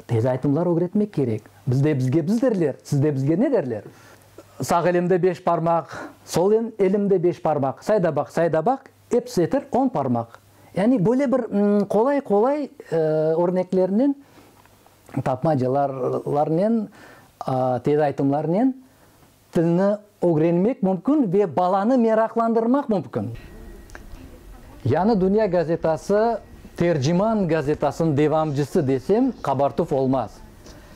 Tez aytımlar ögretmek kerek. Bizde bizge biz derler, sizde bizge ne derler? Sağ elimde beş parmaq, sol elimde beş parmaq, sayda baq, sayda baq, episi eter on parmaq. Yani böyle bir qolay qolay örneklernen, tapmacalarnen, tez aytımlarnen. Tilni ögrenmek mümkün ve balanı meraqlandırmaq mümkün. Yani Dünya gazetası Terciman gazetasınıñ devamcısı desem, qabartuv olmaz.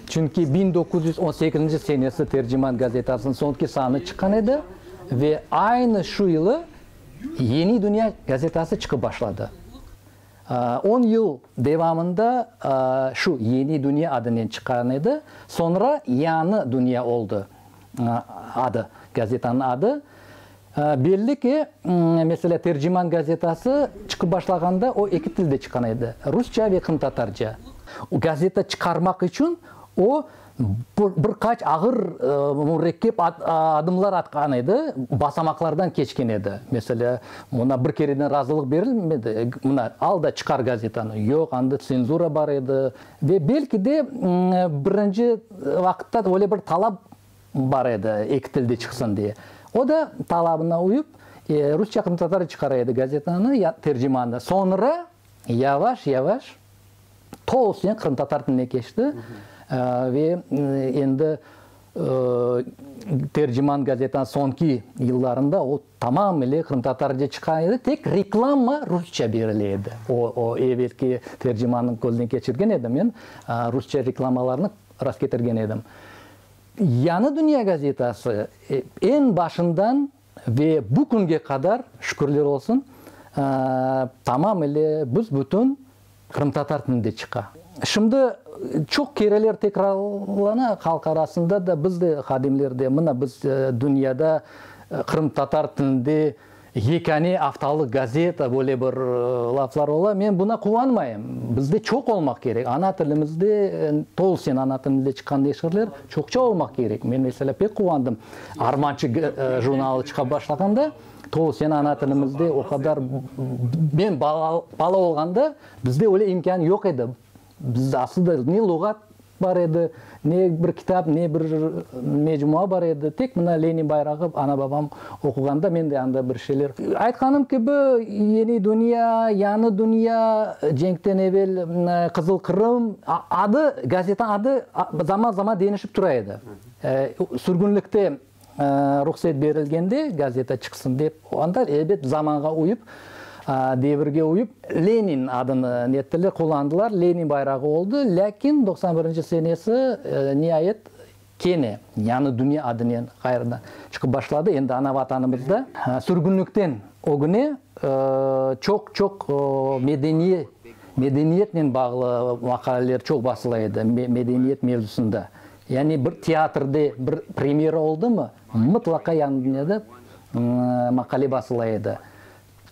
Çünki biñ doquz yüz on sekizinci senesi Terciman gazetasınıñ soñki sanı çıqqan edi ve aynı şu yılı Yeni Dünya gazetası çıqıp başladı. On yıl devamında şu Yeni Dünya adınen çıqqan edi, soñra Yañı Dünya oldı adı, gazetanıñ adı. Belli ki, meselâ, Terciman gazetası çıqıp başlağanda o eki tilde çıqqan edi, rusça ve qırımtatarca. Gazeta çıqarmaq içün o Bir qaç ağır, mürekkep adımlar atqan edi, basamaqlardan keçken edi. Meselâ, oña bir kereden razılıq berilmedi, mına, al da çıqar gazetanı. Yoq, anda tsenzura bar edi. Ve belki de, birinci vaqıtta öyle bir talap bar edi, eki tilde çıqsın diye. O da talabına uyıp, rusça, qırımtatarca çıqara edi gazetanı, tercimanı. Soñra. yavaş-yavaş tolusunen qırımtatar tiline keçti ve endi Terciman gazetanıñ soñki yıllarında o, tamamile qırımtatarca çıqa edi, tek reklama rusça berile edi. O, o evelki Tercimanı közden keçirgen edim men, rusça reklamalarnı rastketirgen edim. Yañı dünya gazetası eñ başından Ve bu künge qadar, şükürler olsun, tamam ile büs-bütün qırımtatar tilinde çıqa. Şimdi çoq kereler tekrarlana halq arasında da, biz de, hadimler de, mına biz dünyada qırımtatar tilinde yekâne aftalıq gazeta, böyle bir laflar ola. Men buna quvanmayım. Bizde çoq olmaq kerek. Ana tilimizde, tolusen ana tilimizde çıqqan neşirler çoqça olmaq kerek. Men, meselâ, pek quvandım. Armançı jurnalı çıqa başlağanda, Tolusen ana tilimizde o qadar, men bala olğanda bizde öyle imkân yoq edi. Biz aslında ne luğat bar edi, ne bir kitap, ne bir mecmua bar edi. Tek mına Lenin bayrağı ana-babam oquğanda men de anda bir şeyler. Aytqanım kibi, Yeni dünya, Yañı dünya, cenkten evel Qızıl Qırım, adı, gazeta adı zaman-zaman denişip tura edi. Sürgünlikte ruhset berilgende gazeta çıqsın dep, onda, elbet, zamanğa uyıp, devirge uyıp, Lenin adını nettiler, qullandılar, Lenin bayrağı oldı. Lâkin doqsan birinci senesi, niayet, kene yañı dünya adınen ğayrıdan çıqıp başladı, endi ana Vatanımızda. Sürgünlikten ögüne çoq-çoq medeniye, medeniyetnen bağlı maqaleler çoq basıla edi, medeniyet mevzusında. Yani bir teatrde bir premyera oldımı, mıtlaqa yanında da maqale basıla edi.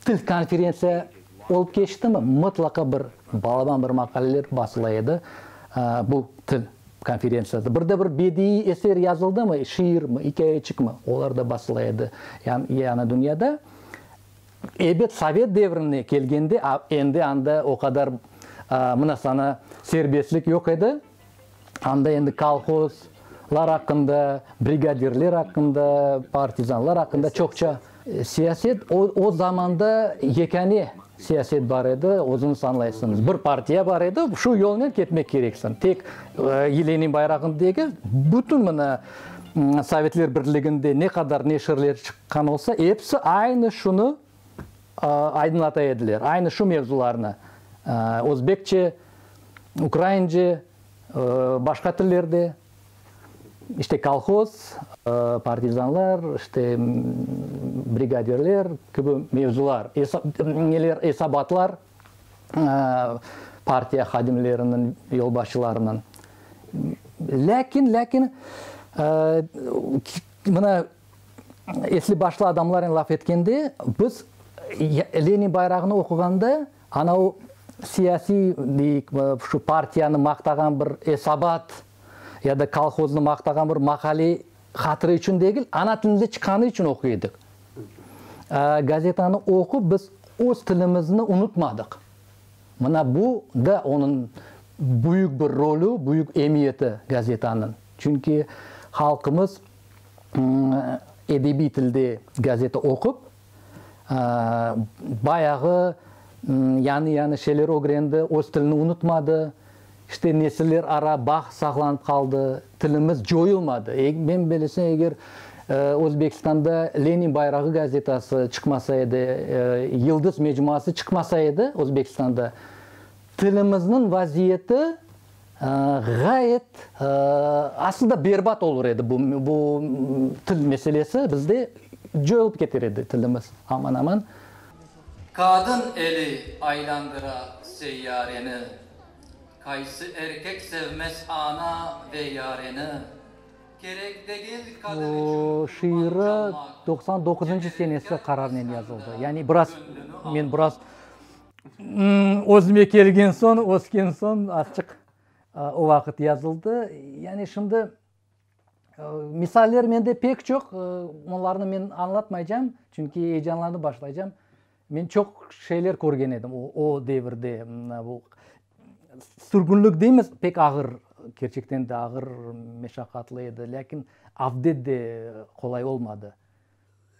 Til konferentsiya olıp keçtimi, mıtlaqa bir balaban bir maqaleler basıla edi, bu til konferentsiyada. Bir de bir bediiy eser yazıldımı, şiirmi, ikâyeçikmi, olar da basıla edi. Yani dünyada, ebet, sovet devrine kelgende, endi anda o qadar mına sana serbestlik yoq edi. Anda endi kolhoz lar aqqında, brigadirler aqqında, partizanlar aqqında çoqça. Siyaset, o, o zamanda yekâne siyaset bar edi, özüñiz añlaysıñız. Bir partiya bar edi, şu yolnen ketmek kereksiñ. Tek Lenin bayrağını degil, bütün mına Sovetler Birliginde ne qadar neşirler çıqqan olsa, episi aynı şunı aydınlata ediler, aynı şu mevzularnı özbekçe, ukraince, başqa tillerde, işte, kolhoz, partizanlar, işte, brigadirler kibi mevzular, neler, esabatlar partiya hadimleriniñ, yolbaşçılarınıñ. Lâkin, lâkin, mına, Esli başlı adamlarnen laf etkende, biz Lenin bayrağını oquğanda, ana o siyasiy, deyik, şu partiyanı maqtağan bir esabat ya da kolhoznı maqtağan bir maqale hatırı içün degil, ana tilimizde çıqqanı içün oquy edik. Gazetanı oqup biz öz tilimizni unutmadıq. Mına bu da onıñ büyük bir rolü, büyük emiyeti gazetanıñ. Çünki halqımız. edebiy tilde gazeta oqup, bayağı yañı-yañı şeyler ögrendi, öz tilini unutmadı, işte, nesiller ara bağ saqlanıp qaldı, tilimiz coyulmadı. Men bilesem, eger Özbekistanda Lenin bayrağı gazetası çıqmasa edi, Yıldız mecmuası çıqmasa edi Özbekistanda, tilimizniñ vaziyeti Ğayet, aslında berbat olur edi bu bu til meselesi, bizde coyulıp keter edi tilimiz aman-aman. Qadın eli aylandıra seyyareni, Qaysı erkek sevmez ana ve yareni, Kerek degil qadın içün kurban çalmaq, Bu şiiri doqsan doquzıncı senesi qararınen yazıldı. Yani biraz, men biraz Özüme kelgen soñ, ösken soñ artıq o vaqıt yazıldı. Yani şimdi misaller mende pek çoq, onlarnı men añlatmaycam, çünki eyecanlanıp başlaycam. Men çoq şeyler körgen edim o devirde. Sürgünlik deymiz, pek ağır, kerçekten de ağır, meşaqqatlı edi, lâkin avdet de qolay olmadı.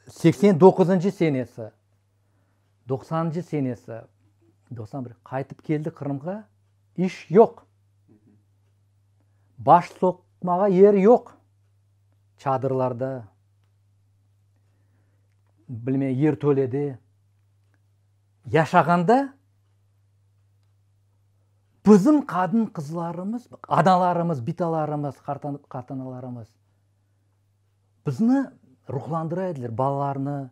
Seksen doquzıncı senesi. Doqsanıncı senesi, doqsan bir, qaytıp keldi Qırımğa, iş yoq. Baş soqmağa yer yoq. Çadırlarda, bilmey, yertölede yaşağanda bizim qadın-qızlarımız, analarımız, bitalarımız, qartanalarımız, Bizni ruhlandıra ediler, balalarnı,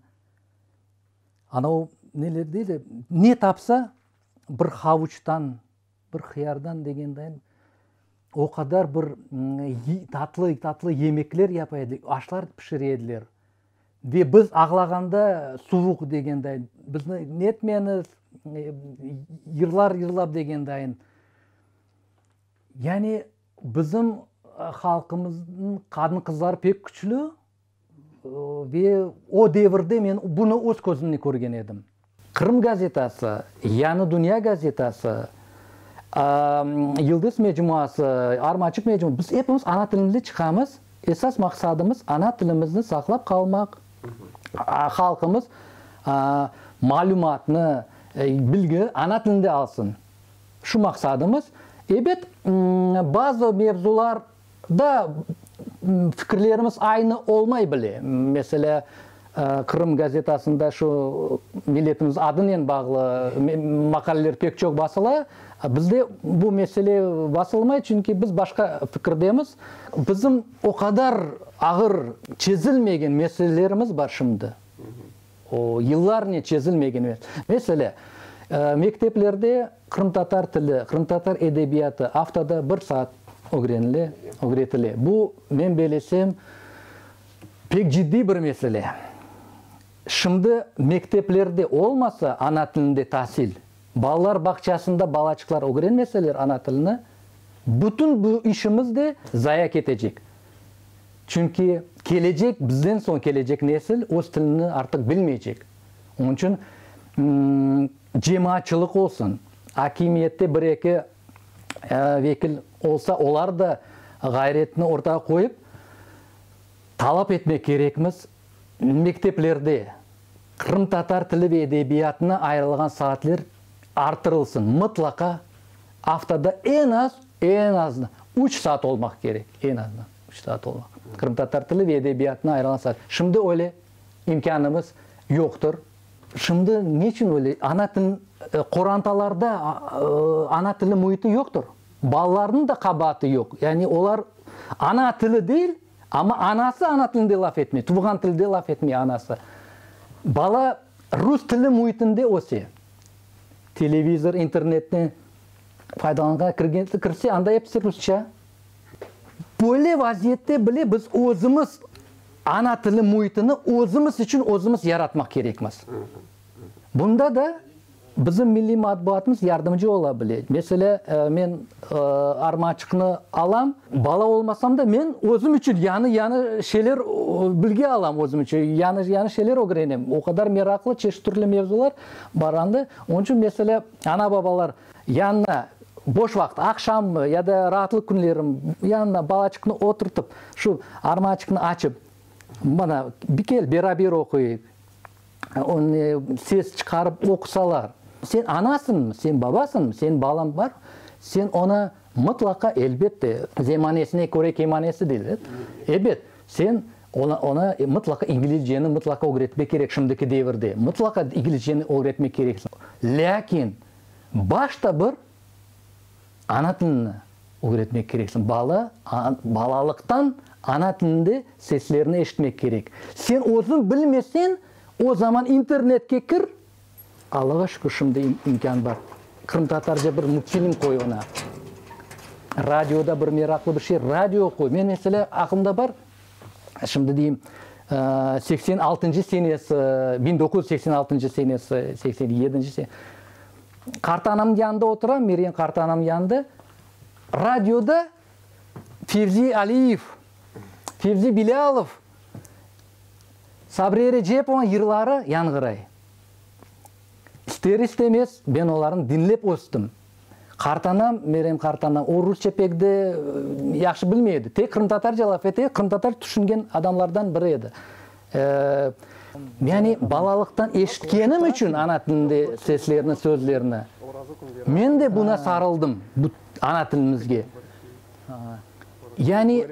ana o neler deydi, ne tapsa, bir havuçtan, bir hıyardan degendayin, o qadar bir tatlı, tatlı yemekler yapa ediler, aşlar pişire ediler. Ve biz ağlağanda suvuq degendayin, bizni netmeñiz, yırlar yırlap degendayin. Yani. Bizim halqımıznıñ qadın-qızları pek küçlü ve o devirde men bunı öz közümnen körgen edim. Qırım gazetası, Yañı dünya gazetası, Yıldız mecmuası, Armançıq mecmuası, biz epimiz ana tilimizde çıqamız. Esas maqsadımız, ana tilimizni saqlap qalmaq, halqımız malümatnı, bilgi ana tilinde alsın. Şu maqsadımız, ebet, bazı mevzular da fikirlerimiz aynı olmay bile. Meselâ, Qırım gazetasında şu milletimiz adınen bağlı maqaleler pek çoq basıla, bizde bu mesele basılmay, çünki biz başqa fikirdemiz. Bizim o qadar ağır çezilmegen meselelerimiz bar şimdi. O, yıllarnen çezilmegen mesele. Mekteplerde qırımtatar tili, qırımtatar edebiyatı aftada bir saat ögrenile, ögretile. Bu, men belesem, pek ciddiy bir mesele. Şimdi mekteplerde olmasa ana tilinde tasil, balalar bağçasında balaçıqlar ögrenmeseler ana tilini, bütün bu işimiz de zaya ketecek. Çünki kelecek, bizden soñ kelecek nesil öz tilini artıq bilmeycek. Onıñ içün cemaatçılıq olsun, akimiyette bir eki vekil olsa, olar da ğayretini ortağa qoyıp, talap etmek kerekmiz. Mekteplerde qırımtatar tili ve edebiyatına ayırılğan saatler artırılsın, mıtlaqa aftada eñ az, eñ azından üç saat olmaq kerek, eñ azından üç saat olmaq, qırımtatar tili ve edebiyatına ayırılğan saat. Şimdi öyle imkânımız yoqtır. Şimdi ne içün öyle? Ana til, qorantalarda ana tili müiti yoqtır. Balalarnıñ da qabaatı yoq. Yani olar ana tili deyil. Amma anası ana tilinde laf etmey, tuvğan tilde laf etmey anası. Bala rus tili müitinde öse. Televizor, internetni faydalanğan kirse, anda episi rusça. Böyle vaziyette bile biz özümiz ana tili müitini özümiz içün özümiz yaratmaq kerekmiz. Bunda da Bizim milliy matbuatımız yardımcı ola bile. Meselâ, men Armançıqnı alam, bala olmasam da, men özüm içün yañı-yañı şeyler bilge alam, özüm içün yañı-yañı şeyler ögrenem. O qadar meraqlı, çeşit türlü mevzular bar anda. Onıñ içün, meselâ, ana-babalar yanına boş vaqıt, aqşammı ya da raatlıq künlerim, yanına balaçıqnı oturtıp, şu Armançıqnı açıp, mana, bir kel, beraber oquyıq. Onı ses çıqarıp oqusalar. Sen anasıñmı, sen babasıñmı, senin balañ bar, sen oña mıtlaqa, elbette, zemanesine köre kemanesi deyler edi, ebet, sen oña mıtlaqa inglizceni mıtlaqa ögretmek kerek, şimdiki devirde mıtlaqa inglizceni ögretmek kereksiñ. Lâkin başta bir Ana tilini ögretmek kerek. Bala balalıqtan ana tilinde seslerni eşitmek kerek. Sen özüñ bilmesen, o zaman internetke kir. Allağa şükür, şimdi imkân bar. Qırımtatarca bir multfilm qoy oña. Radioda bir meraqlı bir şey, radio qoy. Men, meselâ, aqlımda bar, şimdi deyim, seksen altıncı senesi, biñ doquz yüz seksen altıncı senesi, seksen yedinci. Qartanamnıñ yanında oturam, Mergen qartanamnıñ yanında. Radioda Fevzi Aliyev, Fevzi Bilâlov, Sabriye Recepovanıñ yırları yañğıray. İster-istemez men olarnı diñlep östüm. Qartanam, Mergen qartanam, o rusça pek de yahşı bilmey edi. Tek qırımtatarca laf ete, qırımtatar tüşüngen adamlardan biri edi. Yani, balalıqtan eşitkenim içün ana tilinde seslerni, sözlerni. Men de buna sarıldım, bu ana tilimizge. Yani,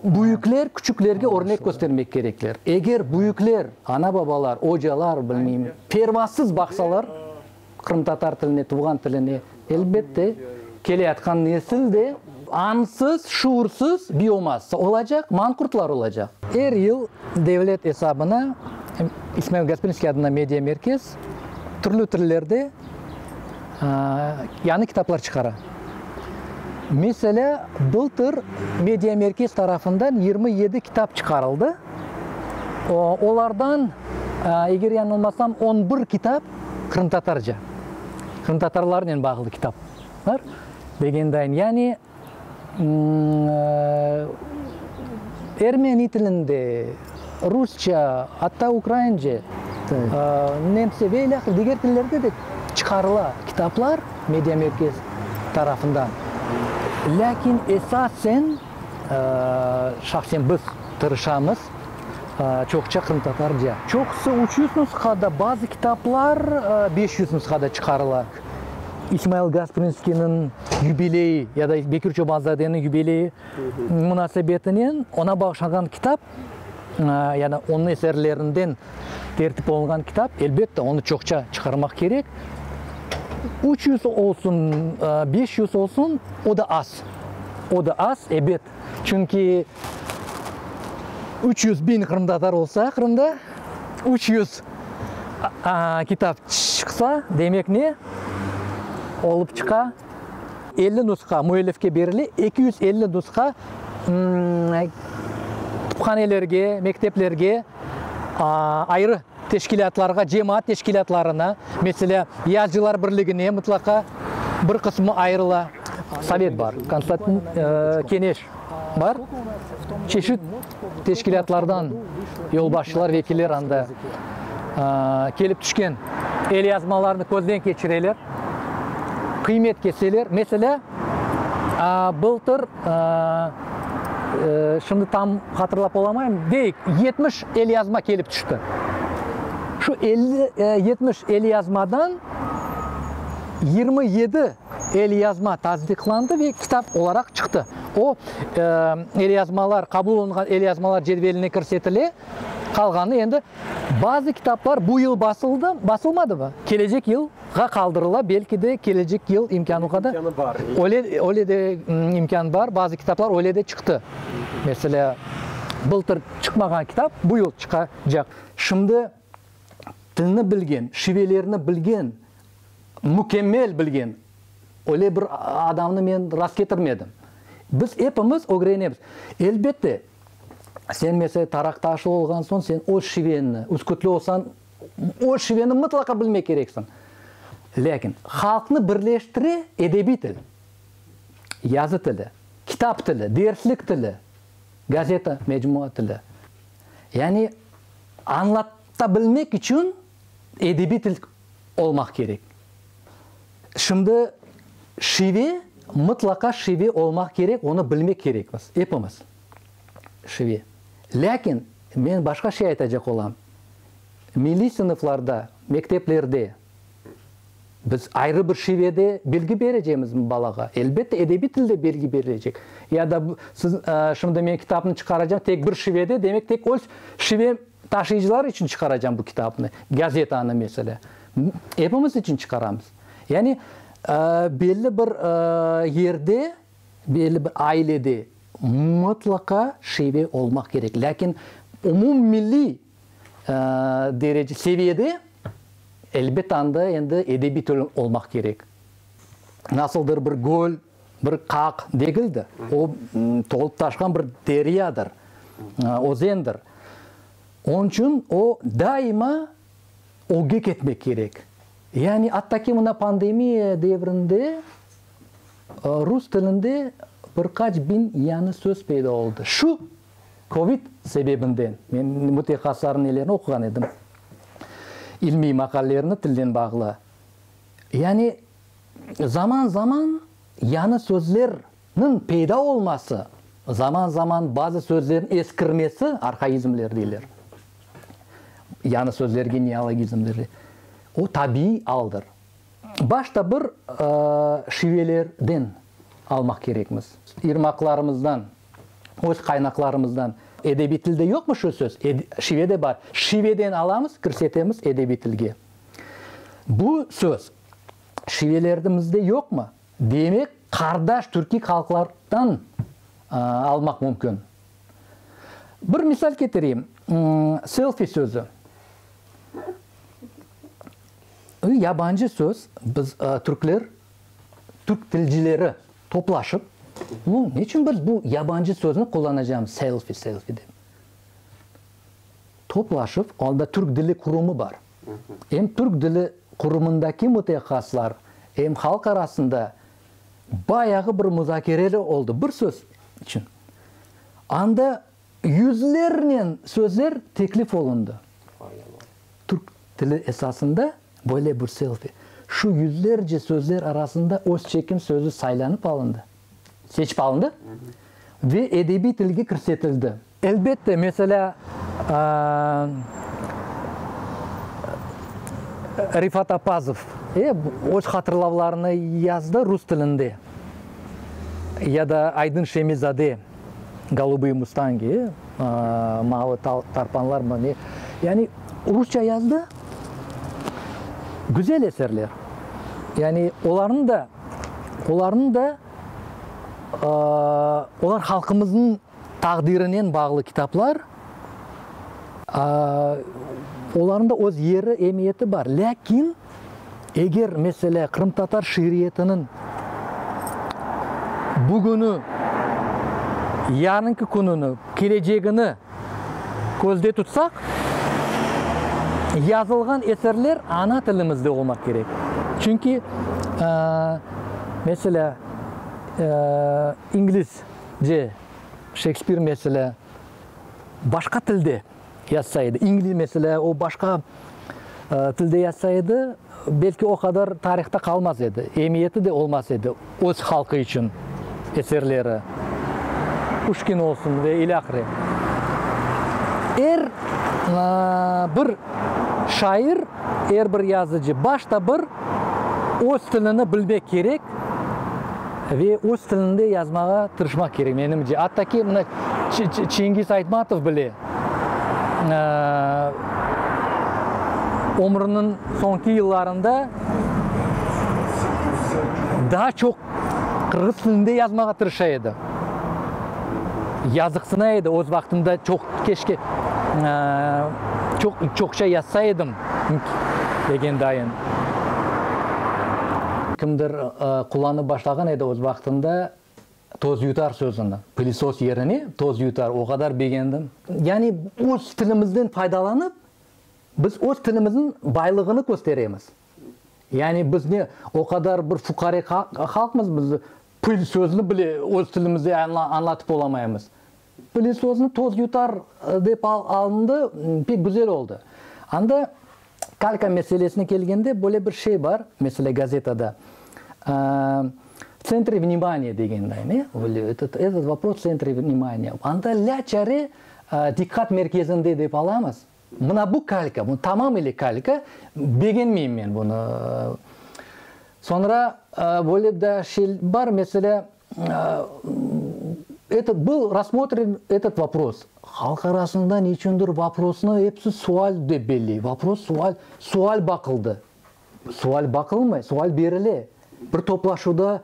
büyükler küçüklerge örnek köstermek kerekler. Eger büyükler, ana-babalar, ocalar, bilmeyim, pervasız baqsalar, Qırımtatar tiline, tuvğan tiline, elbette, keleyatqan nesil de. Añsız, şuursız biomassa olacaq, manqurtlar olacaq. Er yıl devlet esabına İsmail Gasprinskiy adına media merkez türlü tillerde yañı kitaplar çıqara. Meselâ, bıltır media merkez tarafından yirmi yedi kitap çıqarıldı. Olardan, eger yañılmasam, on bir kitap Qırımtatarca, qırımtatarlarnen bağlı kitaplar degendayım. Yani, ermeni tilinde, rusça, atta ukraince, nemsçe ve ilâhre diger tillerde de çıqarıla kitaplar Media Merkez tarafından. Lâkin esasen, şahsen biz tırışamız çoqça qırımtatarca. Çoqusı üç yüz nusqada, bazı kitaplar beş yüz nusqada çıqarıla. İsmail Gasprinskiyniñ yubileyi ya da Bekir Çobanzadeniñ yubileyi munasebetinen oña bağışlanğan kitap, yani onıñ eserlerinden tertip olunğan kitap, elbette, onı çoqça çıqarmaq kerek. Üç yüz olsun, beş yüz olsun, o da az, o da az, ebet. Çünki üç yüz biñ qırımtatar olsa Qırımda, üç yüz kitap çıqsa, demek ne olıp çıqa? Elli nusqa müellifke berile, eki yüz elli nusqa kütüphanelerge, mekteplerge ayrı Teşkilâtlarğa, cemaat teşkilâtlarına, meselâ, Yazıcılar birligine mıtlaqa bir qısmı ayırıla. Sovet bar, Konstantin, Keneş bar, çeşit teşkilâtlardan yolbaşçılar, vekiller anda kelip tüşken elyazmalarnı közden keçireler, qıymet keseler. Meselâ, bıltır, şimdi tam hatırlap olamayım, deyik, yetmiş elyazma kelip tüşti. Şu elli, yetmiş elyazmadan yirmi yedi elyazma tasdiqlandı ve kitap olaraq çıqtı. O, elyazmalar, qabul olunğan elyazmalar cedveline kirsetile, qalğanı endi bazı kitaplar bu yıl basıldı, basılmadı ve kelecek yıl Ğa qaldırıla, belki de, kelecek yıl imkân o qadar. İmkânı bar. Öyle, öyle de imkân bar, bazı kitaplar öyle de çıqtı. Meselâ, bıltır çıqmağan kitap bu yıl çıqacaq. Şimdi tilni bilgen, şivelerni bilgen, mükemmel bilgen öyle bir adamnı men rastketirmedim. Biz epimiz ögrenemiz. Elbette, sen, meselâ, Taraktaşlı olğan soñ, sen öz şiveñni, üskütlü olsañ, O şiveni mıtlaqa bilmek kereksiñ. Lâkin halqnı birleştire edebiy til, yazı tili, kitap tili, derslik tili, gazeta, mecmua tili. Yani añlatabilmek içün edebiy til olmaq kerek. Şimdi şive, mıtlaqa şive olmaq kerek, onı bilmek kerekmiz, epimiz. şivi. Lâkin men başqa şey aytacaq olam, milliy sınıflarda, mekteplerde biz ayrı bir şivede bilgi berecemizmi balağa? Elbette, edebiy tilde bilgi berilecek. Ya da siz, şimdi men kitapnı çıqaracam tek bir şivede, demek, tek öz şivem taşıyıcılar içün çıqaracam bu kitapnı, gazetanı, meselâ. Epimiz içün çıqaramız. Yani, belli bir yerde Belli bir ailede mıtlaqa şive olmaq kerek, lâkin umummilliy derece, seviyede, elbet, anda endi edebiy til olmaq kerek. Nasıldır bir göl, bir qaq degildir, o, tolıp taşqan bir deryadır, özendir. Onıñ içün o, daima ögge ketmek kerek. Yani, atta ki, mına pandemiya devrinde Rus tilinde bir qaç biñ yañı söz peyda oldı. Şu Covid sebebinden, men mütehassıslarnıñ nelerini oquğan edim, ilmiy maqalelerini tilden bağlı, yani zaman zaman yañı sözlerniñ peyda olması, zaman zaman bazı sözlerniñ eskirmesi, arhaizmler deyler, yañı sözlerge, neologizmlerge, o tabiiy aldır. Başta bir şivelerden almaq kerekmiz, irmaqlarımızdan, öz qaynaqlarımızdan. Edebiy tilde yoqmı şu söz? Şivede bar. Şiveden alamız, kirsetemiz edebiy tilge. Bu söz şivelerdimizde yoqmı? Demek, qardaş türkiy halqlardan almaq mümkün. Bir misal ketireyim, selfi sözü. Şimdi yabancı söz, biz, türkler, türk tilcileri toplaşıp, bu, ne içün biz bu yabancı sözni qullanacağımız, selfi, selfi dep? Toplaşıp, onda Türk dili qurumı bar. Em Türk dili qurumındaki mütehassıslar, em halq arasında bayağı bir muzakereler oldı, bir söz içün. Anda Yüzlernen sözler teklif olundı. Türk tili esasında böyle bir selfi. Şu yüzlerce sözler arasında öz çekim sözü saylanıp alındı, seçip alındı ve edebiy tilge kirsetildi. Elbette, meselâ, Refat Apazov öz hatırlavlarını yazdı rus tilinde, ya da Aydın Şemizade. Golubıye mustangi, Mavı tarpanlarmı ne, yani rusça yazdı, güzel eserler. Yani olarnı da, olarnı da, olar halqımıznıñ taqdirinen bağlı kitaplar, olarnıñ da öz yeri, emiyeti bar. Lâkin. Eger meselâ qırımtatar şiiriyetiniñ bugünü, yarınki kününi, kelecegini közde tutsaq, yazılğan eserler ana tilimizde olmaq kerek. Çünki, meselâ, İngilizce Şekspir meselâ başqa tilde. Yazsa edi. İngliz meselâ, o başqa tilde yazsa edi, belki o qadar tarihta qalmaz edi, emiyeti de olmaz edi öz halqı içün eserleri, Puşkin olsun ve ilâhre. Er bir şair, er bir yazıcı başta bir öz tilini bilmek kerek. Ve öz tilinde yazmağa tırışmaq kerek, menimce. Atta ki, mına Çengiz Aytmatov bile ömrüniñ soñki yıllarında daa çoq qırğız tilinde yazmağa tırışa edi. Yazıqsına edi, öz vaqtında çoq, keşke çoq, çoqça yazsa edim, Nt. Legendayın. Kimdir qullanıp başlağan edi öz vaqtında tozyutar sözüni, pılisos yerine tozyutar, o qadar begendim. Yani öz tilimizden faydalanıp, biz öz tilimizniñ baylığını kösteremiz. Yani biz ne o qadar bir fuqare halqmız, biz pıl sözüni bile öz tilimizde añlatıp olamaymız. Pılesosnı toz yutar dep alındı, pek güzel oldı. Anda kalka meselesine kelgende, böyle bir şey bar, mesele gazetada, v tsentre vnimaniya degenday, ne, böyle etet, etet vopros v tsentre vnimaniya. Anda lâ çare diqqat merkezinde dep alamız. Mına bu kalka, bu tamamıyle kalka, begenmeyim men bunı. Soñra böyle daa şey bar, meselâ, Eto, bil, rassmotrim etot vopros. Halq arasında neçündir voprosnı episi sual dep belley. Vopros, sual, sual baqıldı. Sual baqılmay, sual berile. Bir toplaşuvda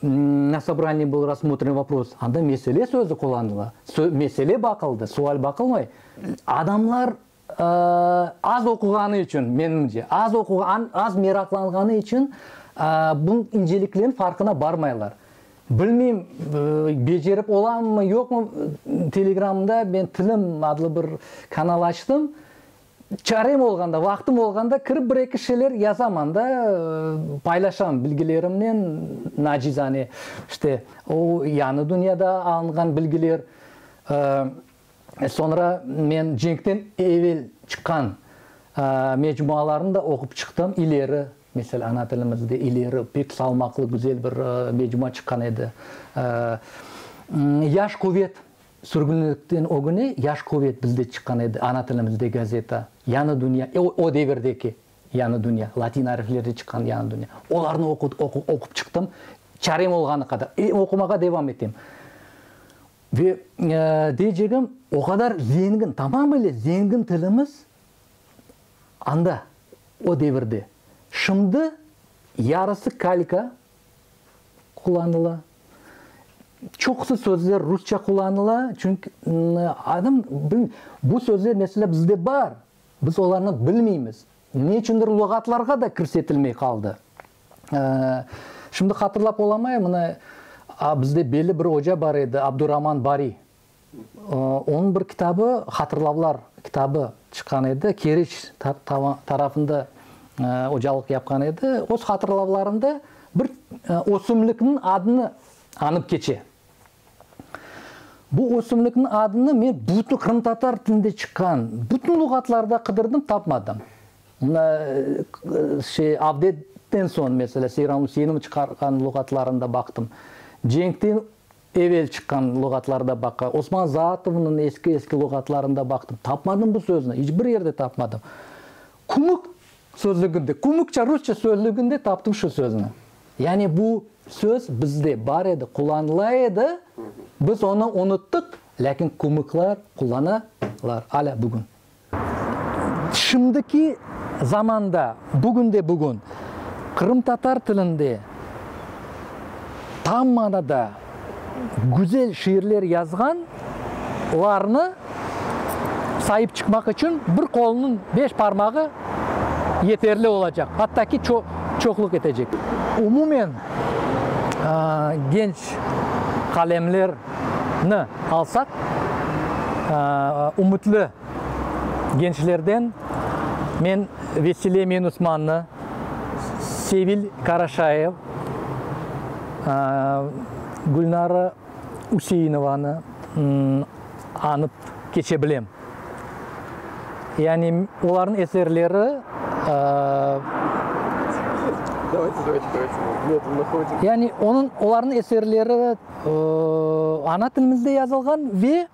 na sobraniyede bil rassmotrim vopros, anda mesele sözü qullanıla. Sö, mesele baqıldı, sual baqılmay. Adamlar Az oquğanı içün, menimce, az oquğan, az meraqlanğanı içün bu inceliklerin farqına barmaylar. Bilmeyim, becerip olamı, yoqmı, Telegramda men Tilim adlı bir kanal açtım. Çarem olğanda, vaqtım olğanda kirip bir-eki şeyler yazaman da, paylaşam bilgilerimnen, nacizane, işte, o, yañı dünyada alınğan bilgiler. Soñra men cenkten evel çıqqan mecmualarnı da oqup çıqtım. İleri, mesele, ana tilimizde İleri pek salmaqlı, güzel bir mecmua çıqqan edi. Yaş quvet, sürgünlikten ögüne Yaş quvet bizde çıqqan edi, ana tilimizde gazeta. Yañı dünya, o devirdeki Yañı dünya, latin ariflerden çıqqan Yañı dünya. Olarnı oqup çıqtım, çarem olğanı qadar. E, oqumağa devam etem. Ve deycegim, o qadar zengin, tamamıyla zengin tilimiz anda, o devirde. Şimdi yarısı kalka qullanıla, çoqusı sözler rusça qullanıla, çünki, adım, bu sözler, mesela, bizde bar, Biz olarnı bilmeymiz. Ne içündir luğatlarğa da kirsetilmey qaldı. Şimdi hatırlap olamayım, mına, bizde belli bir oca bar edi, Abduraman Bari. Onıñ bir kitabı, Hatırlavlar kitabı çıqqan edi, Keriç tarafında ocalıq yapqan edi. Öz hatırlavlarında bir ösümlikniñ adını añıp keçe. Bu ösümlikniñ adını men bütün qırımtatar tilinde çıqqan bütün luğatlarda qıdırdım, tapmadım. Mına, şey, Avdetden soñ, meselâ, Seyran Üseynovnıñ çıqarğan luğatlarında baqtım, cenkten evel çıqqan luğatlarda baqqa, Osman Zaatovnıñ eski-eski luğatlarında baqtım, tapmadım bu sözni, iç bir yerde tapmadım. Kümük Sözlüginde, kümükçe rusça sözlüginde taptım şu sözni. Yani bu söz bizde bar edi, qullanıla edi, biz onı unuttıq, lâkin kümükler qullanalar alâ bugün. Şimdiki zamanda, bugünde bugün qırımtatar tilinde tam manada güzel şiirler yazğan larnı sayıp çıqmaq içün bir qolunıñ beş parmağı yeterli olacaq, atta ki ço çoqluq etecek. Umumen, genç qalemler ni alsaq, ümütli. gençlerden men Vesile Menusmannı, Sevil Karaşayev, Gülnara Üseinovanı añıp keçe bilem. Yani olarnıñ eserleri, yani olarnıñ eserleri ana tilimizde yazılğan ve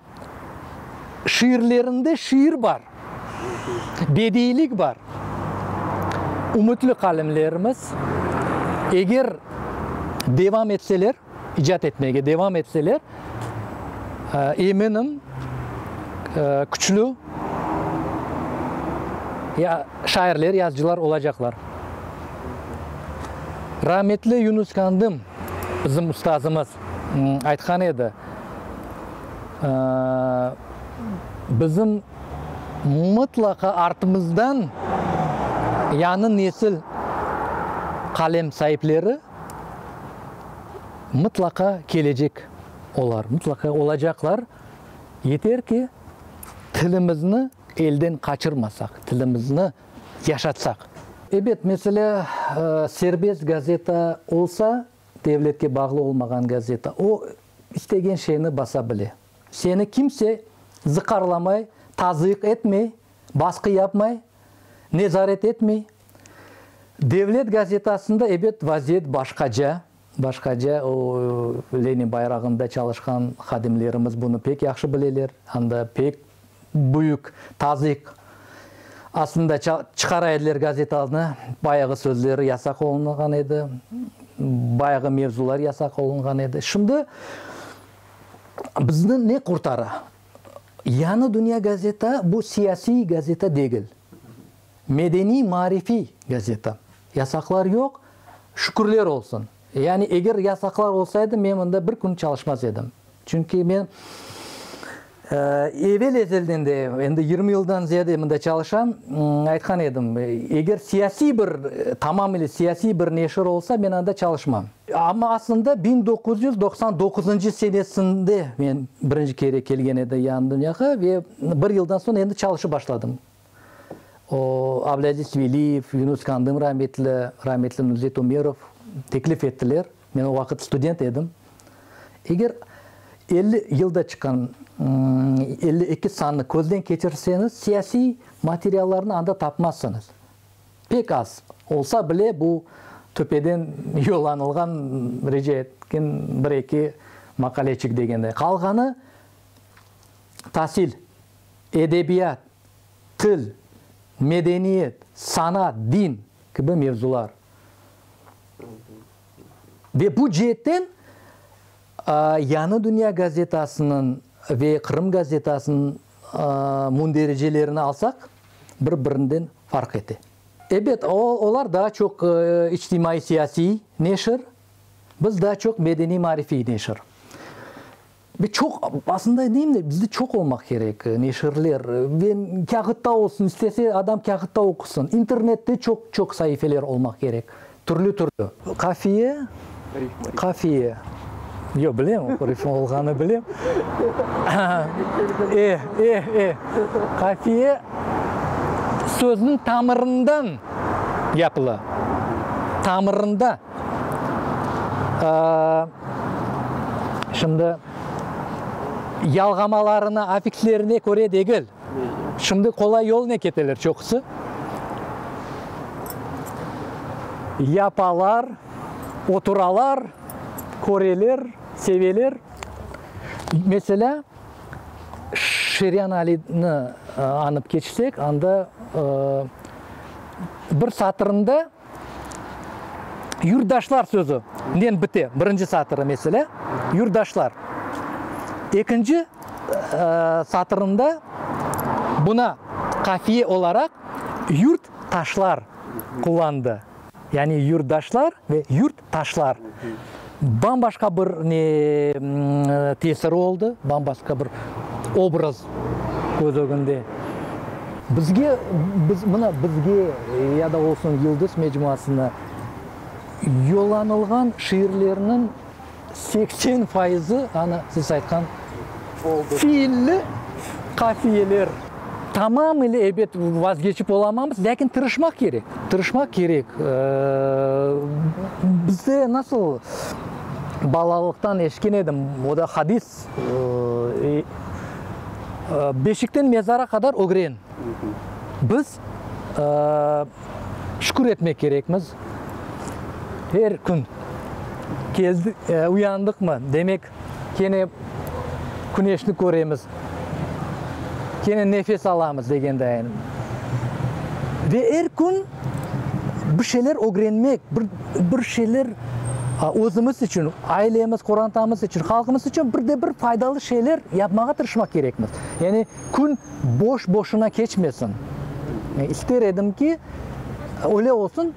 Şiirlerinde şiir bar, bediylik bar. Ümütli qalemlerimiz, eger devam etseler, icat etmege devam etseler, eminim, küçlü şairler, yazıcılar olacaqlar. Rametli Yunus Kandım. Bizim ustazımız aytqan edi, bizim mıtlaqa artımızdan yañı nesil qalem saipleri mıtlaqa kelecek olar, mıtlaqa olacaqlar, yeter ki, tilimizni elden qaçırmasaq, tilimizni yaşatsaq. Ebet, meselâ, serbest gazeta olsa, devletke bağlı olmağan gazeta, o, istegen şeyni basa bile. Seni kimse zıqarlamay, tazıyıq etmey, basqı yapmay, nezaret etmey. Devlet gazetasında, ebet, vaziyet başqaca. Başqaca o, Lenin bayrağında çalışqan hadimlerimiz bunı pek yahşı bileler, hám da pek büyük tazıyıq astında ça, çıqara ediler gazetanı, bayağı sözleri yasaq olunğan edi, bayağı mevzular yasaq olunğan edi. Şimdi bizni ne qurtara? Yañı dünya gazeta bu siyasiy gazeta degil. Medeniy-maarifiy gazeta. Yasaqlar yoq, şükürler olsun. Yani eger yasaqlar olsaydı, men mında bir kün çalışmaz edim. Çünki men evel ezelden de, endi yirmi yıldan ziyade mında çalışam, aytqan edim, eger siyasiy bir, tamamıyla siyasiy bir neşir olsa, men anda çalışmam. Amma aslında biñ doquz yüz doqsan doquzıncı senesinde men birinci kere kelgen edim Yağnıdünyağa ve bir yıldan soñ endi çalışıp başladım. O, Ableaziz Veliyev, Yunus Kandım rametli, rametli Nuzet Umerov teklif ettiler. Men o vaqıt student edim. Eger elli yılda çıqqan elli eki sannı közden keçirseñiz, siyasiy materiallarnı anda tapmazsıñız. Pek az. Olsa bile, bu töpeden yollanılğan rica etken bir eki maqaleçik degende. Qalğanı, tasil. edebiyat, til, medeniyet, sanat, din kibi mevzular. Ve bu ceetten Yañı dünya gazetasınıñ ve Qırım gazetasınıñ mündericilerini alsaq, bir-birinden farq ete. Ebet, olar daa çoq içtimaiy-siyasiy neşir, biz daa çoq medeniy-marifiy neşir. Ve çoq, aslında aytayım da, bizde çoq olmaq kerek neşirler. Ve kâğıtta olsun, istese adam kâğıtta oqusın. İnternette çoq, çoq saifeler olmaq kerek, türlü, türlü. Qafiye, qafiye, yoq, bilem, rifma olğanı bilem. E, e, e, qafiye sözniñ tamırından yapıla, tamırında. Şimdi, yalğamalarına, afiklerine köre degil. Şimdi qolay yolnen keteler çoqusı. Yapalar, oturalar, köreler, seveler. Meselâ, Şiryan Alini añıp keçsek, anda bir satırında. Yurtdaşlar sözü nen bite birinci satırı mesele, yurtdaşlar. Ekinci satırında buna qafiye olaraq yurt taşlar qullandı. Yani yurtdaşlar ve yurt Taşlar bam-başqa bir ne tesir oldı, bam-başqa bir obraz köz ögünde. Bizge, biz, mına bizge ya da olsun Yıldız mecmuasına yollanılğan şiirlerniñ Seksen fayızı, ana, siz aytqan fiilli qafiyeler. Tamam ile, ebet, vazgeçip olamamız, lâkin tırışmaq kerek, tırışmaq kerek. Bizde nasıl balalıqtan eşitken edim, o da hadis, Beşikten mezara qadar ögren. Biz. Şükür etmek kerekmiz, er kün. Keldik, uyandıqmı, demek, kene küneşni köremiz, kene nefes alamız, degendayin. Ve er kün bir şeyler ögrenmek, bir, bir şeyler özümiz içün, ailemiz, qorantamız içün, halqımız içün bir de bir faydalı şeyler yapmağa tırışmaq kerekmiz. Yani. Kün boş-boşuna keçmesin. İster edim ki, öyle olsun.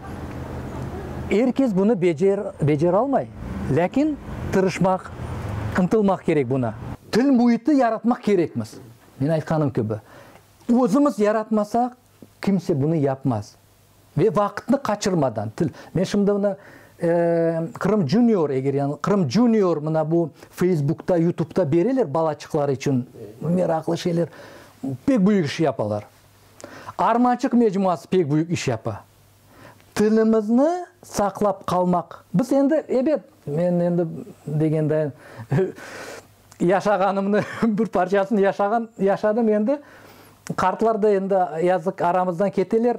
Er kes bunı becer, beceralmay. Lâkin tırışmaq, ıntılmaq kerek buna. Til müiti yaratmaq kerekmiz. Men aytqanım kibi, özümiz yaratmasaq, kimse bunı yapmaz. Ve vaqıtnı qaçırmadan til. Men şimdi mına Qırım Junior eger yañıl, Qırım Junior mına bu Facebookta, Yutubda bereler balaçıqlar içün meraqlı şeyler. Pek büyük iş yapalar. Armançıq mecmuası pek büyük iş yapa. Tilimizni saqlap qalmaq. Biz endi, ebet, men endi degendayin Yaşağanımnı, bir parçasını yaşağan, yaşadım endi. Qartlar da endi, yazıq, aramızdan keteler.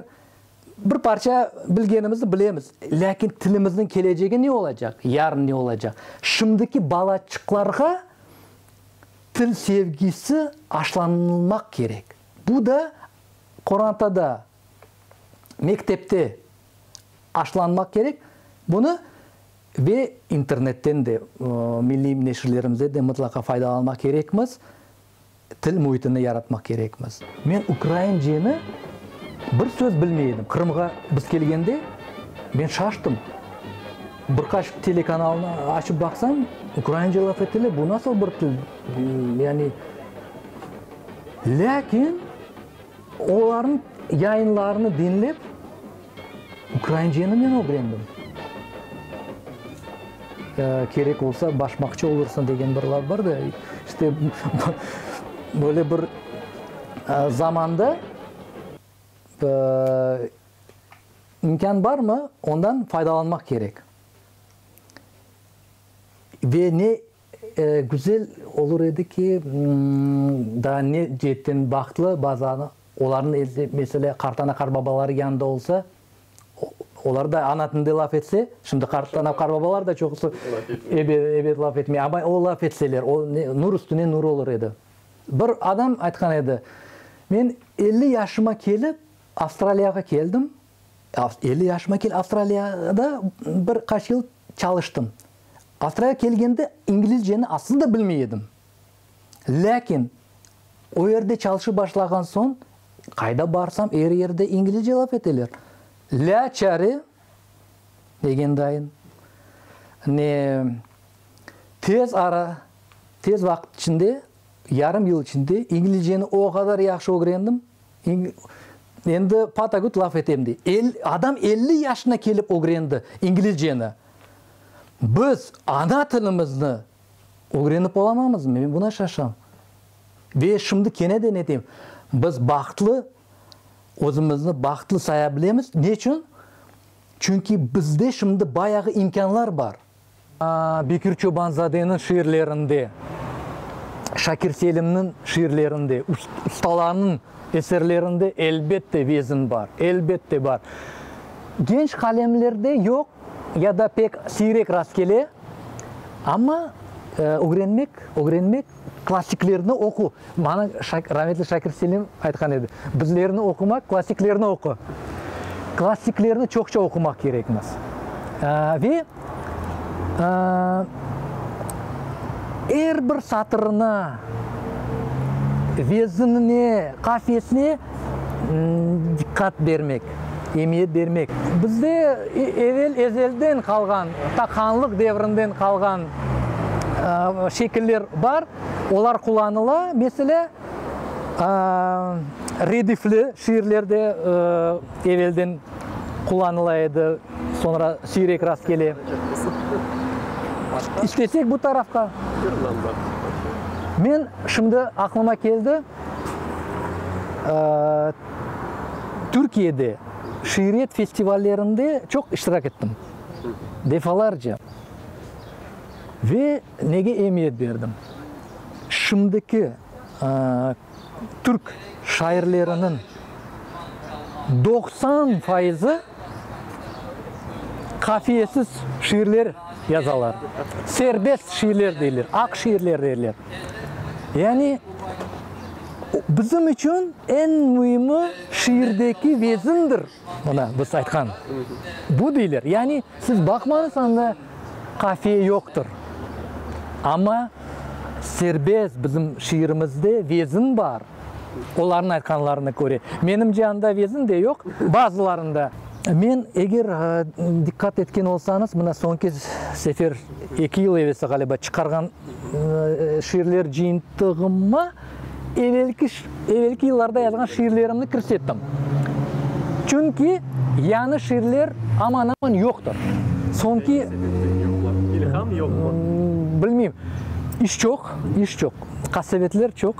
Bir parça bilgenimizni bilemiz. Lâkin tilimizniñ kelecegi ne olacaq, yarın ne olacaq? Şimdiki balaçıqlarğa til sevgisi aşlanılmaq kerek. Bu da qorantada, mektepte aşlanmaq kerek. Bunı. Ve internetten de, milliy neşirlerimizden de mıtlaqa faydalanmaq kerekmiz, til müitini yaratmaq kerekmiz. Men ukrainceni bir söz bilmey edim. Qırımğa biz kelgende, men şaştım. Bir qaç telekanalnı açıp baqsam, ukraince laf etile, bu nasıl bir til? Yani, lâkin olarnıñ yayınlarını diñlep. Ukrainceni men ögrendim. Kerek olsa başmaqçı olursan degen bir laf bar da, işte, böyle bir zamanda imkân barmı, ondan faydalanmaq kerek. Ve ne. Güzel olur edi ki, daa ne ceetten bahtlı bazı olarnıñ elde, mesele, qartana qarbabaları yanında olsa, olar da ana tilinde laf etse, şimdi qartana qarbabalar da çoqusı ebet laf etmey, amma o laf etseler, o ne, nur üstüne nur olur edi. Bir adam aytqan edi, Men elli yaşıma kelip, Avstraliyağa keldim, Elli yaşıma kel, Avstraliyada bir qaç yıl çalıştım. Avstraliyağa kelgende İngilizceni aslında bilmey edim. Lâkin o yerde çalışıp başlağan soñ, qayda barsam, er yerde İngilizce laf eteler. La çare degendayım. Ne tez ara, tez vaqıt içinde, yarım yıl içinde İngilizceni o qadar yahşı ögrendim. Endi patagüt laf etem, dey. El, adam elli yaşına kelip ögrendi İngilizceni. Biz ana tilimizni ögrenip olamamızmı? Men buna şaşam. Ve şimdi keneden etem, biz bahtlı, özümizni bahtlı saya bilemiz. Neçün? Çünki bizde şimdi bayağı imkânlar bar. Bekir Çobanzadeniñ şiirlerinde, Şakir Selimniñ şiirlerinde, ustalarnıñ eserlerinde elbette vezn bar, elbette bar. Genç qalemlerde yoq ya da pek siyrek rast kele, amma ögrenmek, ögrenmek Klassiklerni oqu. Maña Şak, rahmetli Şakir Selim aytqan edi, bizlerni oqumaq, klassiklerni oqu. Klassiklerni çoqça oqumaq kerekmiz. Aa, ve, aa, er bir satırına, veznine, qafiyesine, diqqat bermek, emiyet bermek. Bizde evel, ezelden qalğan, ta hanlıq devrinden qalğan şekiller bar, olar qullanıla. Meselâ, redifli şiirler de evelden qullanıla edi, soñra siyrek rast kele. İstesek bu tarafqa. Men şimdi aqlıma keldi. Türkiyede şiiriyet festivallerinde çoq iştirak ettim, defalarca. Ve nege emiyet berdim? Şimdiki Türk şairleriniñ doqsan fayızı. qafiyesiz şiirler yazalar, serbest şiirler deyler, aq şiirler deyler. Yani bizim içün eñ müimi şiirdeki vezindir, mına biz aytqan, bu deyler. Yani siz baqmañız anda. Qafiye yoqtır, amma serbest bizim şiirimizde vezin bar, olarnıñ aytqanlarına köre. Menimce, anda vezin de yoq, bazılarında. Men, eger diqqat etken olsañız, mına soñki sefer, eki yıl evvelsi, ğaliba, çıqarğan şiirler cıyıntığıma, evelki, evelki yıllarda yazğan şiirlerimni kirsettim. Çünki yañı şiirler aman-aman yoqtır. Soñki, Ney sebepten yoqlar? İlham yoqmı? Bilmeyim. İş çoq, iş çoq. Qasevetler çoq.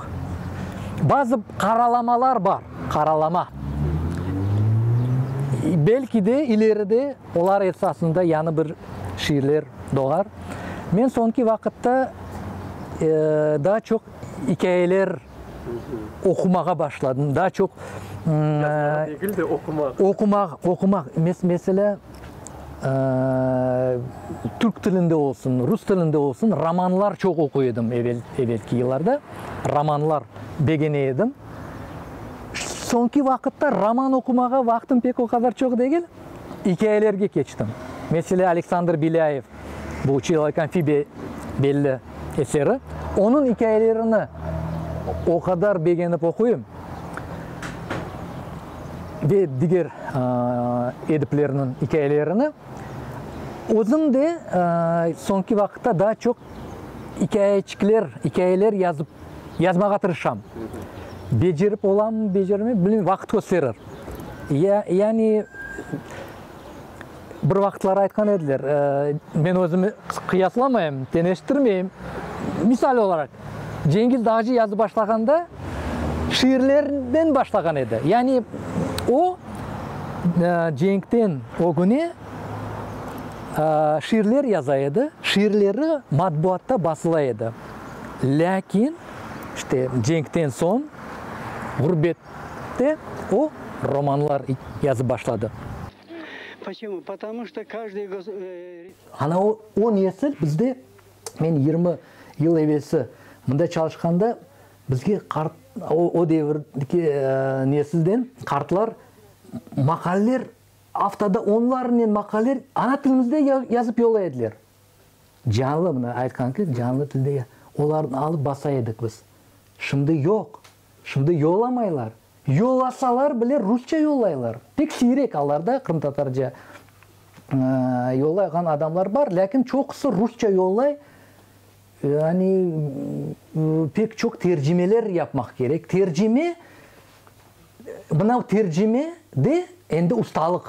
Bazı qaralamalar bar, qaralama. Belki de, ileride olar esasında yañı bir şiirler doğar. Men soñki vaqıtta, daa çoq ikâyeler oqumağa başladım, daa çoq, Yazmağa degil de, oqumaq. Oqumaq, oqumaq. Meselâ, türk tilinde olsun, rus tilinde olsun romanlar çoq oquy edim evel, evelki yıllarda. Romanlar begene edim. Soñki vaqıtta roman oqumağa vaqtım pek o qadar çoq degil. İkâyelerge keçtim. Mesele, Aleksandr Belâyev, bu Çılâk amfibiya belli eseri. Onıñ ikâyelerini o qadar begenip oquyım, ve diger ediplerniñ ikâyelerini. Özüm de soñki vaqıtta daa çoq ikâyeçikler, ikâyeler yazıp, yazmağa tırışam. Becerip olamı, becermeymi, bilmeyim, vaqıt kösterir. Ya, yani, bir vaqıtlar aytqan ediler, men özümi qıyaslamayım, teñeştirmeyim, misal olaraq, Cengiz Dağcı yazıp başlağanda şiirlerden başlağan edi, yani, o, cenkten ögüne şiirler yaza edi, şiirleri matbuatta basıla edi, lâkin, işte, cenkten soñ, ğurbet Ve o, romanlar yazıp başladı. Ana o, o nesil bizde, men yirmi yıl evelsi mında çalışqanda, bizge qart, o, o devirki nesilden qartlar maqaleler, aftada onlarnen maqaleler ana tilimizde yazıp yollay ediler. Canlı, mına aytqan kız, canlı tilde ya. Olarnı alıp basa edik biz. Şimdi yoq. Şimdi yollamaylar. Yollasalar bile rusça yollaylar. Pek siyrek alarda qırımtatarca yollayğan adamlar bar, lâkin çoqusı rusça yollay. Yani pek çoq tercimeler yapmaq kerek. Tercime, mınav tercime de endi ustalıq.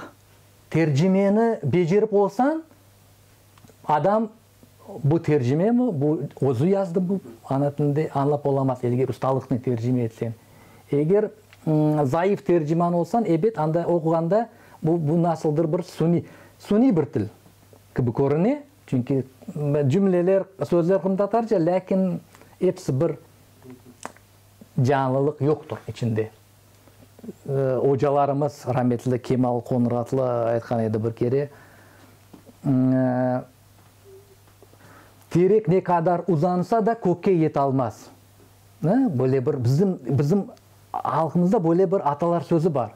Tercimeni becerip olsañ, Adam bu tercime mi, bu özü yazdı bu ana tilinde, añlap olamaz, elge ustalıqnen tercime etsen. Eger zayıf terciman olsan, ebet, anda oquğanda bu, bu nasıldır bir suniy, suniy bir til kibi körüne, çünki cümleler, sözler qırımtatarca, lâkin episi bir, canlılıq yoqtır içinde. Ocalarımız, rametli Kemal Qonratlı aytqan edi bir kere, Terek ne qadar uzansa da, kökke yetalmaz. Böyle bir bizim, bizim halqımızda böyle bir atalar sözü bar.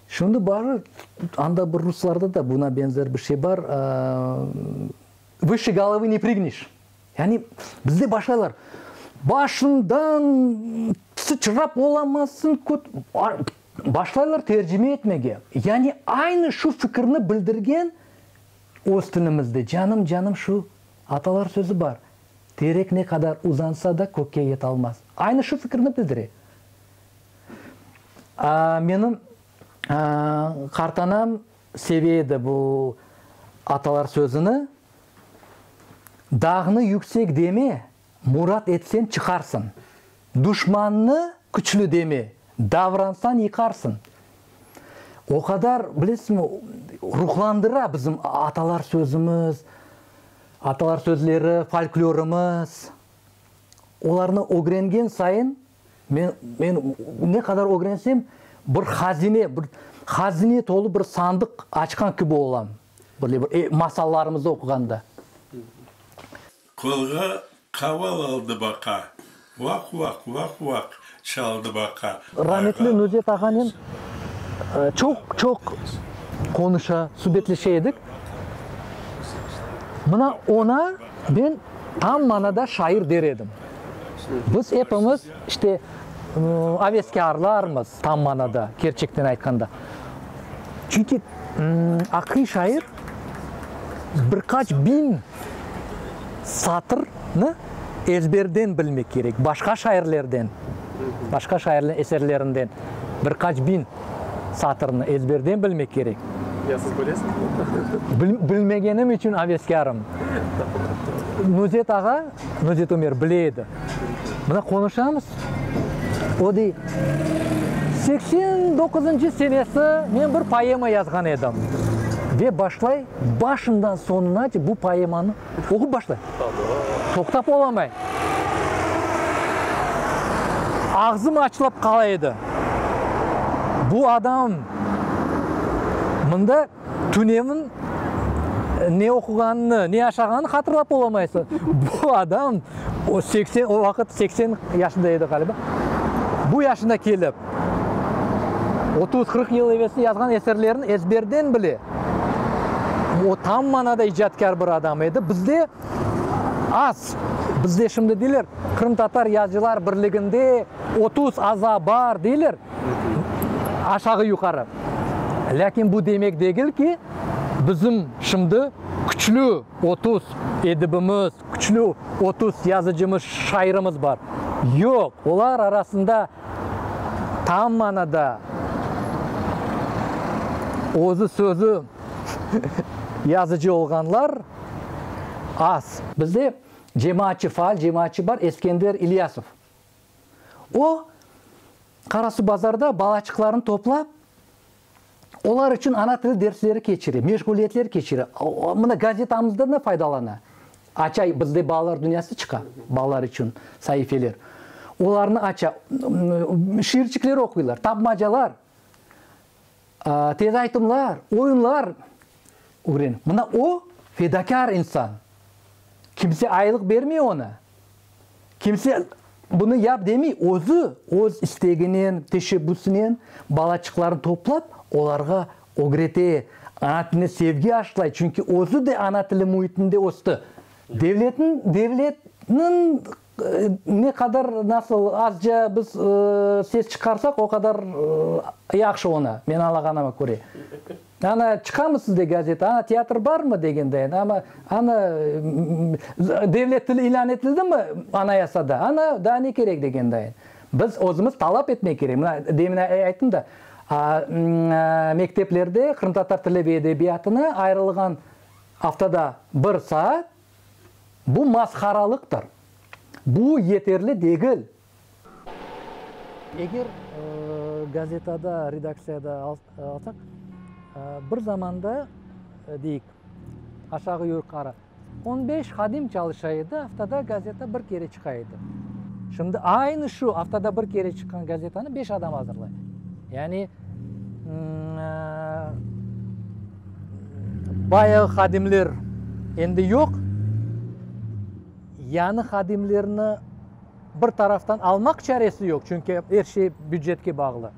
Şimdi barı, anda bir ruslarda da buna benzer bir şey bar, Vışı golovı ne prıgnış. Yani, bizde başlaylar, Başıñdan sıçrap olamassıñ, köt. Başlaylar tercime etmege. Yani, aynı şu fikirni bildirgen öz tilimizde, canım, canım, şu atalar sözü bar, Terek ne qadar uzansa da, kökke yete almaz. Aynı şu fikirni bildire. Menim qartanam Seviye de bu atalar sözüni dağnı yüksek deme, murat etsen çıqarsın, duşmannı küçlü deme, davransan yıqarsın. O qadar bilesizmi ruhlandıra bizim atalar sözümüz, atalar sözleri, folklorımız. Olarnı ögrengen sayın Men, men ne qadar ögrensem, bir hazine, bir hazine tolu bir sandıq açqan kibi olam, böyle bir e, masallarımızda oquğanda. Qolğa qaval aldı baqa, vaq-vaq, vaq-vaq çaldı baqa, Rametli Nuzet ağanen çoq, çoq qonuşa, subetleşe edik. Mına oña ben tam manada şair der edim. Biz epimiz, işte, aveskârlarmız, tam manada, kerçekten aytqanda. Çünki aqiy şair bir qaç biñ satırnı ezberden bilmek kerek, başqa şairlerden, başqa şairlerniñ eserlerinden bir qaç biñ satırnı ezberden bilmek kerek. Ya siz bilesiñizmi? Bilmegenim içün aveskârım. Nuzet ağa. Bunı Jitomer bile edi. Mına qonuşamız, o dey, seksen doquzıncı senesi men bir poema yazğan edim, dep başlay, başından soñunace bu poemanı oqup başlay. Toqtap olamay. Ağzım açılıp qala edi. Bu adam mında. Tünevin ne oquğanını, ne yaşağanını hatırlap olamaysız. Bu adam o seksen, o vaqıt seksen yaşında edi ğaliba. Bu yaşına kelip, otuz, qırq yıl evelsi yazğan eserlerini ezberden bile. O tam manada icatkâr bir adam edi. Bizde az, bizde şimdi deyler, Qırımtatar Yazıcılar Birliginde otuz aza bar deyler. aşağı-yuqarı. Lâkin bu demek degil ki, bizim şimdi küçlü otuz edibimiz, küçlü otuz yazıcımız, şairimiz bar. Yoq, olar arasında tam manada özü sözü yazıcı olğanlar az. Bizde cemaatçı, faal cemaatçı bar, Eskender İlyasov. O, Qarasuvbazarda balaçıqlarını toplap, olar içün ana tili dersleri keçire, meşğuliyetler keçire. Mına, gazetamızdan da faydalana. Aça, bizde balalar dünyası çıqa, balalar içün saifeler. Olarnı aça, şiirçikler oquylar, tapmacalar. Tez aytımlar, oyunlar ögren. Mına o, fedakâr insan. Kimse aylıq bermey onı. Kimse bunı yap demey. Özü, öz isteginen, teşebbüsinen balaçıqlarnı toplap, olarğa ögrete, ana tiline sevgi aşlay. Çünki özü de ana tili müitinde östi. Devletniñ, devletniñ Ne qadar, nasıl azca biz ses çıqarsak, o qadar yahşı oña, men añlağanıma köre. Ana, çıqamı sizde gazeta, ana, teatr barmı degendayin, amma, ana, devlet tili ilân etildimi Anayasada, ana, daa ne kerek degendayin. Biz özümiz talap etmek kerek. Mına, demin ayttım da, mekteplerde qırımtatar tili ve edebiyatına ayırılğan aftada bir saat, Bu masqaralıqtır. Bu yeterli degil. Eger gazetada, redaktsiyada alsaq, bir zamanda, deyik, aşağı-yuqarı on beş hadim çalışa edi, aftada gazeta bir kere çıqa edi. Şimdi aynı şu aftada bir kere çıqqan gazetanı beş adam azırlay. Yani, Bayağı hadimler endi yoq. Yañı hadimlerni bir taraftan almaq çaresi yoq, çünki er şey bücetke bağlı.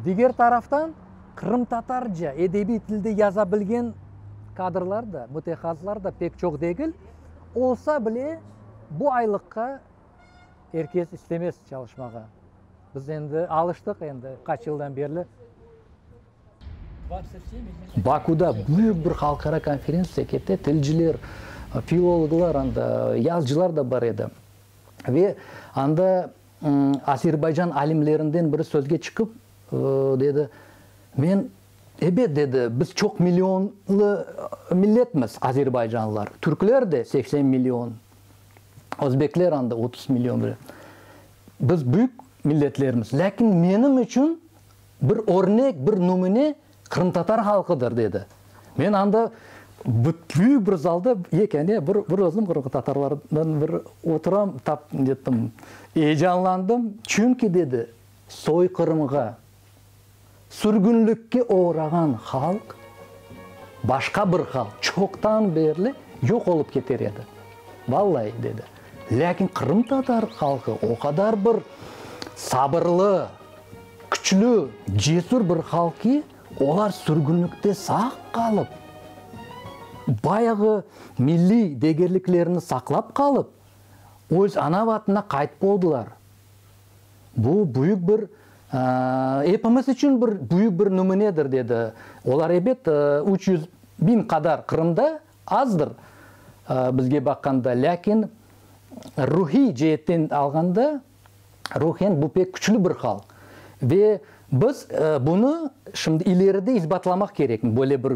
Diger taraftan, qırımtatarca edebiy tilde yaza bilgen kadrlar da, mütehassıslar da pek çoq degil. Olsa bile, bu aylıqqa, Er kes istemez çalışmağa. Biz endi alıştıq endi, qaç yıldan berli. Bakuda büyük bir halqara konferentsiya kete, tilciler, filologlar, anda yazıcılar da bar edi. Ve anda Azerbaycan alimlerinden biri sözge çıqıp, dedi, men, ebet, dedi, biz çoq millionlı milletmiz, azerbaycanlılar, türkler de seksen million. Özbekler anda otuz million bile. Biz büyük milletlermiz. Lâkin menim içün bir örnek, bir numune qırımtatar halqıdır, dedi. Men anda büyük bir zalda yekâne bir, bir özüm qırımtatarlardan bir oturam, tap, nettim, eyecanlandım. Çünki, dedi, soyqırımğa Sürgünlikke oğrağan halq, başqa bir halq çoqtan berli yoq olıp keter edi. Vallayi, dedi. Lâkin qırımtatar halqı o qadar bir sabırlı, küçlü, cesür bir halq ki, olar sürgünlikte sağ qalıp, bayağı milliy degerliklerini saqlap qalıp, öz ana vatanına qaytıp oldılar. Bu büyük bir, epimiz içün bir büyük bir nümünedir, dedi. Olar, ebet, üç yüz biñ qadar Qırımda, azdır bizge baqqanda, lâkin ruhiy ceetten alğanda, ruhen bu pek küçlü bir halq. Ve biz bunı şimdi ileride isbatlamaq kerek, böyle bir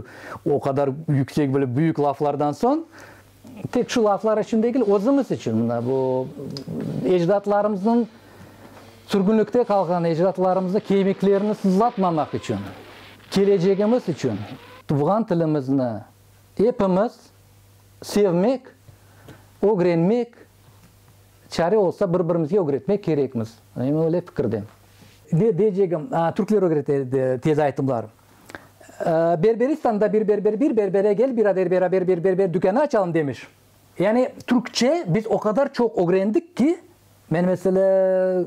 o qadar yüksek, böyle büyük laflardan soñ, Tek şu laflar içün degil, özümiz içün, mına bu ecdatlarımıznıñ, sürgünlikte qalğan ecdatlarımıznıñ kemiklerini sızlatmamaq içün, kelecegimiz içün tuvğan tilimizni epimiz sevmek, ögrenmek, çare olsa bir-birimizge ögretmek kerekmiz. Men öyle fikirdem. Ve deycegim, türkler ögrete edi tez aytımlar. Berberistanda bir berber bir berbere gel birader beraber bir berber dükânı açalım demiş. Yani Türkçe biz o qadar çoq ögrendik ki, men mesele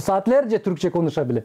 saatlerce Türkçe konuşabilem.